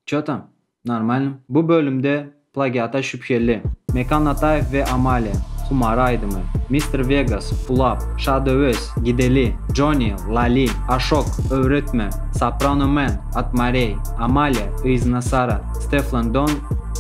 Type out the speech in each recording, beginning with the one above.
Ço tam. Normalnym. Bu bölümde plagiata şübheli, Mekan Ataýew we Amalia, Humara aýdymy, Mister Vegas, Pulap, Şadöwez, Gideli, Joni, Lali, Aşok, Öwretme, Soprano Man, Atmareý, Amalia, Yzna Sara, Steflon Don,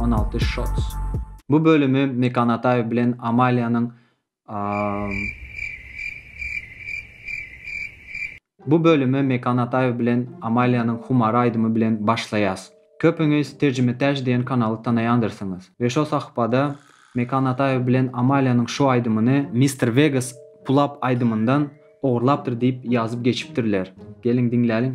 on alty Shots. Bu bölümi Mekan Ataýew bilen Amaliýanyň Bu bölümi Mekan Ataýew bilen Amaliýanyň Humary aýdymy bilen başlaýas. Köpüňiz Terjime Täç diýen kanaly tanaýandyrsyňyz we şo sahypada Mekan Ataýew bilen Amaliýanyň şu aýdymyny Mister Vegas Pulap aýdymyndan ogurlapdyr diýip ýazyp geçipdirler. Geliň diňläliň.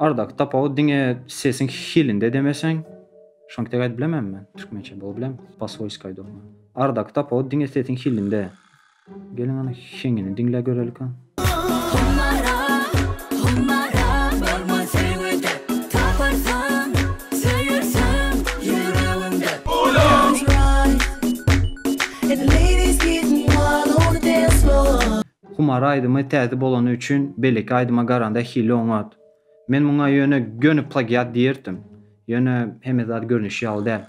Aradaky tapawut diňe sesiň hilinde demeseň, şonki dek aýdyp bilemen men türkmençe bol bilem, paswoýski aýdýan men. Aradaky tapawut diňe sesiň hilinde. Geliň ana heňini diňläp görelik a. Hummara, hummara bolma söýgüde, taparsyň söýersiň ýüregimde. Ýaly, and the ladies gettin' wild on the dance floor. Humar aýdymy täze bolany üçin beýleki aýdyma garanda hili oňat. Men muňa ýöne göni plagiat diýerdim. Ýöne hemme zat görnüşi ýaly däl.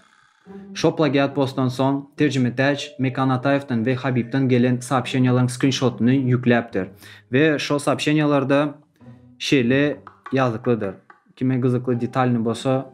Şo plagiat postdan soň Terjimetäç Mekan Ataýewden we Habibden gelen soobşeniýalaryň skrinşotyny ýükläpdir we şo soobşeniýalarda şeýle ýazyklydyr. Kime gyzykly detalny bolsa.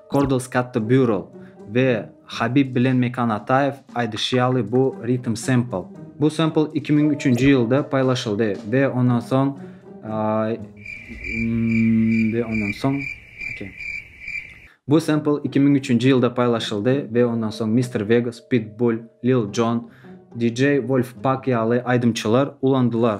Kordal Skatta Bureau we Habib bilen Mekan Ataew aýdyşy ýaly bu Rhythm Sample. Bu sample iki müň üçünji ýylda paýlaşyldy we ondan soň we ondan soň Bu sample iki müň üçünji ýylda paýlaşyldy we ondan soň Mister Vegas, Pitbull, Lil Jon, DJ Wolfpack ýaly aýdymçylar ulandylar.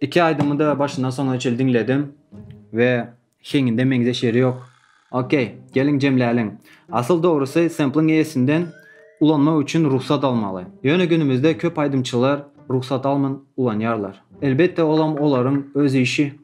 İki aýdymy da başyndan soňuna çenli diňledim we heňinde meňzeş ýeri ýok. Okey, geliň jemläliň. Asyl dogrusy sempliň eýesinden ulanmak üçin rugsat almaly. Ýöne günümizde köp aýdymçylar rugsat alman ulanýarlar. Elbetde olam olaryň öz işi.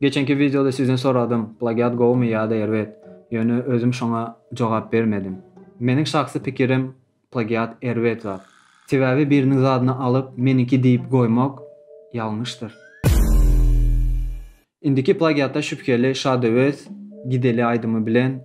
Geçenki wideoda sizden soradym, plagiat gowumy ýa-da erbet? Ýöne özüm şoňa jogap bermedim. Meniň şahsy pikirim, plagiat erbet zat. Sebäbi biriniň zadyny alyp, meniňki diýip goýmak ýalňyşdyr. Indiki plagiatda şübheli Şadöwez, Gideli aýdymy bilen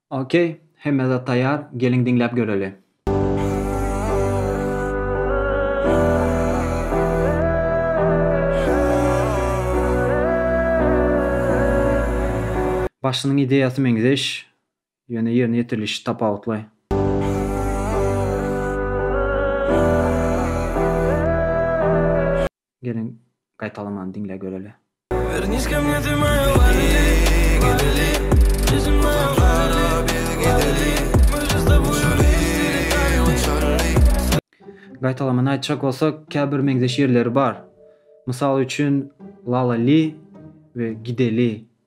Ok hemme zat taýar geliň diňläp göreli. Başynyň ideýasy meňzeş, ýöne ýerine ýetirilişi tapawutly. Geliň gaýtalamany diňläp göreli. Gaýtalamany aýtjak bolsak, käbir meňzeş ýerleri bar. Mysal üçin, Lala Li we Gideli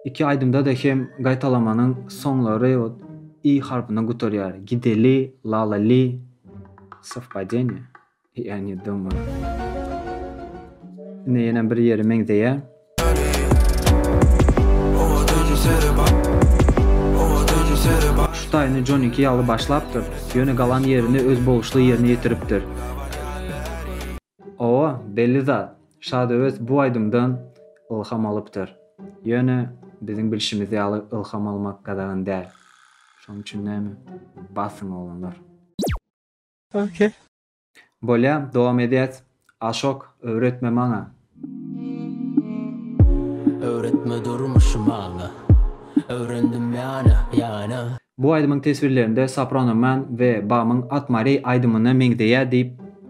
Iki aýdymda-da hem gaýtalamanyň soňlary i harpyna gutarýar, gideli, lalali, sowpadeniýe, ýa ne dommar. Ine ýene bir ýeri meňzeýär. Şu taýyny Jonyňky ýaly başlapdyr, ýöne galan ýerini öz boluşly ýerine ýetiripdir. Owa, belli zat, Şadöwet bu aýdymdan ylham alypdyr. Ýöne, biziň bilşimiz ýaly ylham almak gadagan däl. Şonuň üçin näme, basyň oglanlar. Ok. Bolýa, dowam edýäs. Aşok, öwretme maňa. Öwretme durmuşy maňa. Öwrendim ýana, ýana. Bu aýdymyň teswirlerinde Soprano Man we Bamyň At Mary aýdymyna meňzeýä diýip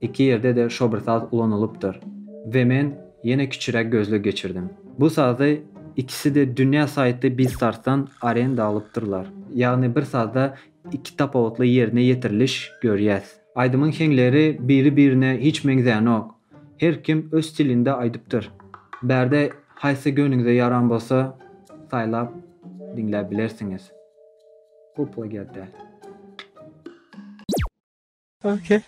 Iki ýerde-de şo bir saz ulanylypdyr we men ýene kiçiräk gözleg geçirdim. Bu sazy ikisi-de Dünýä Saýtly Biztartdan arenda alypdyrlar. Ýagny bir sazda iki tapawutly ýerine ýetiriliş görýäs. Aýdymyň heňleri biri-birine hiç meňzänok. Her kim öz stilinde aýdypdyr. Bärde haýsy göwnüňize ýaran bolsa saýlap diňläp bilersiňiz. Bu plagiat däl. Okey.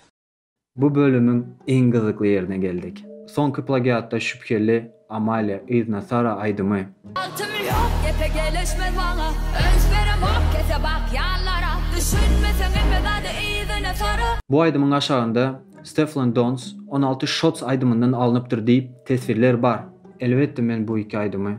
Bu bölümiň iň gyzykly ýerine geldik. Soňky plagiatda şübheli Amalia yzyna Sara aýdymy. Altym ýok gepä gelişmez maňa Önç beremok kese bak ýallara Düşünmeseň epe zady yzyna Sara. Bu aýdymyň aşagynda Stefflon Dons on alty Shots aýdymyndan alnypdyr diýip teswirler bar. Elbetde men bu iki aýdymy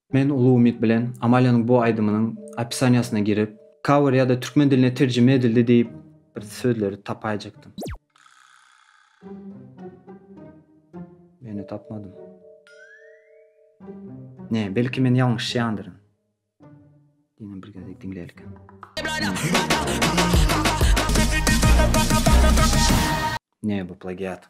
Men uly umyt bilen Amaliýanyň bu aýdymynyň opisaniýasyna girip, cover ýa-da türkmen diline terjime edildi diýip, bir sözleri tapaýjakdym. Ýöne tapmadym. Ne, belki men ýalňyşýandyryn. Diňe bir gezek diňlälikä. Ne, bu plagiat.